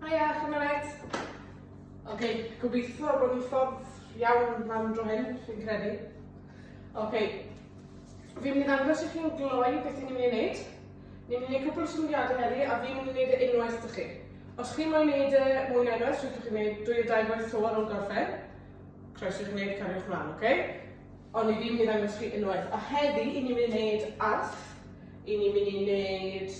Haia, Chymraeg! Ok, gobeithio bod yn ffordd iawn lan dro hyn, fi'n credu. Ok, fi'n mynd i ddangos i chi'n gloi beth ni'n mynd i wneud. Ni'n mynd i wneud cwpl o symudiadau heddi a fi'n mynd i wneud e unwaith dych chi. Os chi'n moyn wneud e mwy na unwaith, rydych chi'n gwneud dwy o dau gwaith to ar ôl gorffen. Croeso chi'n gwneud cariwch mlaen, ok? Ond i fi'n mynd i ddangos chi unwaith. A heddi, i ni'n mynd i wneud arth, i ni'n mynd i wneud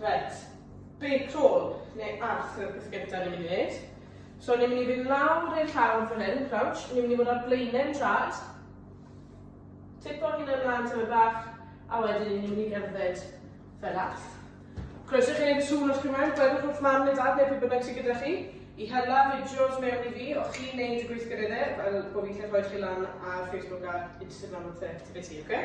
Reit, be crawl neu arth yw'r peth gyntaf ni'n mynd i wneud? So ni'n mynd i fynd lawr i'r llawr fan hyn, crouch, ni'n mynd i fod ar blaenau'n trad, tipo hyn ymlaen tyma bach, a wedyn ni'n mynd i gerdded fel arth. Croeso chi wneud y sŵn os chi mewn, gwedwch wrth mam neu dad neu pwy bynnag sy'n gyda chi, i hela fideos mewn i fi o chi'n wneud y gweithgareddau fel bod fi'n gallu rhoi chi lan ar Facebook a Instagram a pethau, ta beth ti, oce? Okay?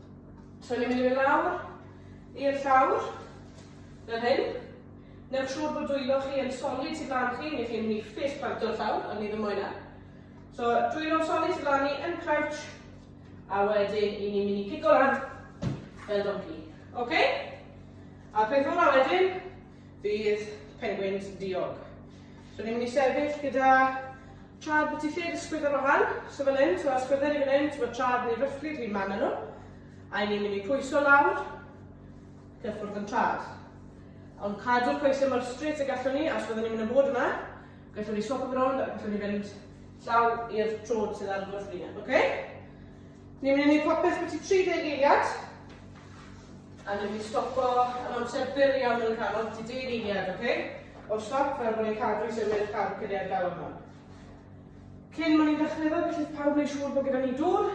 So ni'n mynd i fynd lawr i'r llawr, fel hyn. Newch siŵr bod dwylo chi yn solid sydd lan chi, neu chi'n mynd i ffes planto'r llawr, ond ni ddim moyn e. So dwylo'n solid sydd lan ni yn crouch, a wedyn i ni'n mynd i cico lan fel donkey. OK? A peth ola wedyn, fydd pengwins diog. So ni'n mynd i sefyll gyda trad beth i lle dy sgwydda fo fan, so fel hyn, so a sgwydda ni fan hyn, so mae trad ni'n ryfflyd hi'n man nhw. A ni'n mynd i pwyso lawr, cyffwrdd yn trad. Ond cadw'r coesau mor straight y gallwn ni, a os fyddwn ni'n mynd yn bod yma, gallwn ni swap yn rownd a gallwn ni fynd llaw i'r trod sydd ar gwrs ni. Okay? Ni'n mynd i wneud popeth beth i 30 eiliad. A dwi wedi stopo yn amser byr iawn yn y canol, ti dyn eiliad, oce? Okay? O'r stop, fel bod ni'n cadw i symud y car cyniad galw yma. Cyn ma'n i'n dechrau fel, gallith pawb wneud siŵr bod gyda ni dŵr,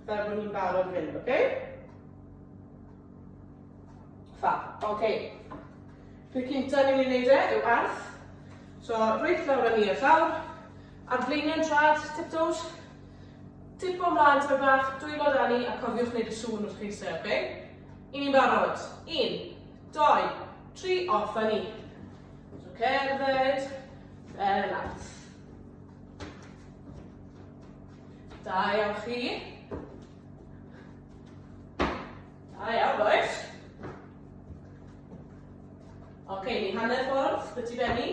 fel bod ni'n barod mynd, oce? Okay? Fa, oce. Okay. Dwi'n cynta ni'n mynd i wneud e, yw arth. So, rwy'n llawr a ni a llawr, Ar flaenau drad, tiptoes. Tipo mlaen tipyn bach, dwylo dan ni a cofiwch wneud y sŵn wrth chi'n eistedd, oce? I ni'n barod. Un, doi, tri, off a ni. So cerdded, fel yna. Da iawn chi. Da iawn, boys. Oce, ni hanner ffordd, byti benni.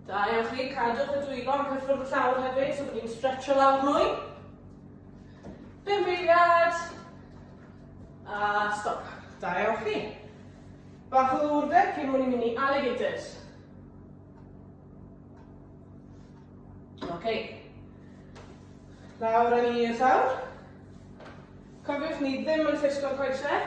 Da iawn chi, cadwch y dwylo am cyffwrdd y llawr hefyd, so bod ni'n stretcho lawr mwy. Bum beiliad. A stop. Da iawn chi. Bach o ddwrdeb cyn mwyn i mynd i alligators. Oce. Okay. Lawr yn i'r llawr. Cofiwch ni ddim yn ffisgo'r coesau.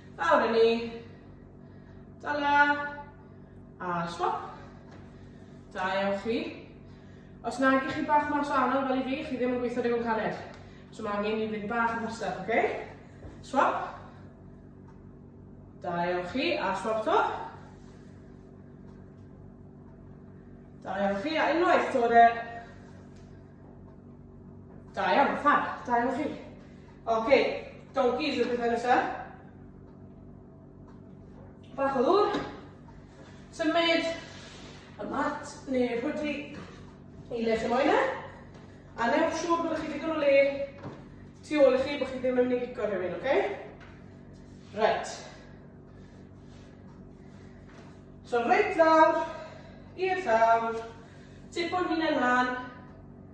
Lawr i ni. Dala. A swap. Da iawn chi. Os na i chi bach mas o anodd fel i fi, chi ddim yn gweithio rhywun caned. So mae angen i fynd bach yn fasach, oce? Okay? Swap. Da iawn chi, a swap to. Da iawn chi, a unwaith dod e... Da iawn, fab, da iawn chi. Ok, donkeys yw'r pethau nesaf. Bach o ddŵr. Symud y mat neu'r hwdi i le chi moyn e. A neu siŵr bod chi digon o le tu ôl i chi bod chi ddim yn mynd i gico rhywun, oce? Okay? Right. So reit lawr, i'r llawr, tipo'n hunan lan,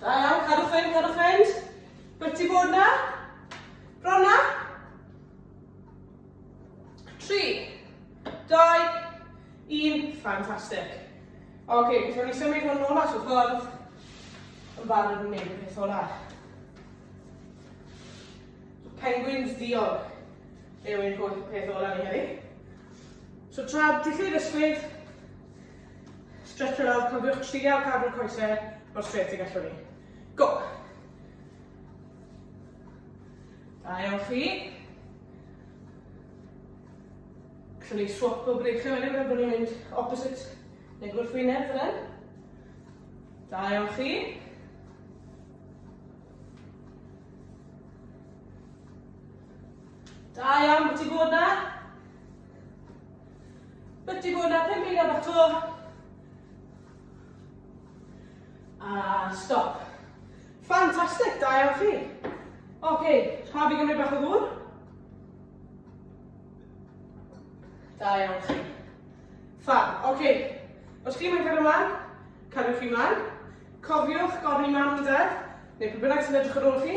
Da iawn, cadwch fynd, cadwch fynd. Wyt ti bod na? Bron na? Tri, dau, un, ffantastig. Oce, okay, gallwn ni symud hwn nôl at y ffordd yn barod yn neud y peth ola. Penguins diog yw ein holl peth ola ni heddi. So tra dillid ysgwyd, Stretch fe lawr, cofiwch trial cadw'r coesau mor straight y gallwn ni. Go! Da iawn chi. Gallwn ni swap o breichau wedyn, fel bod ni'n mynd opposite neu gwrthwyneb fel hyn. Da iawn chi. Da iawn, beth i bod na? Byty bod yna pum eiliad bach to. A stop. Ffantastig, da iawn chi. Oce, okay, pa fi gymryd bach o ddŵr? Da iawn chi. Ffa, oce. Okay. Os chi'n mynd cario mlaen, cariwch chi mlaen. Cofiwch gofyn i mam yn dad, neu pwy bynnag sy'n edrych ar ôl chi,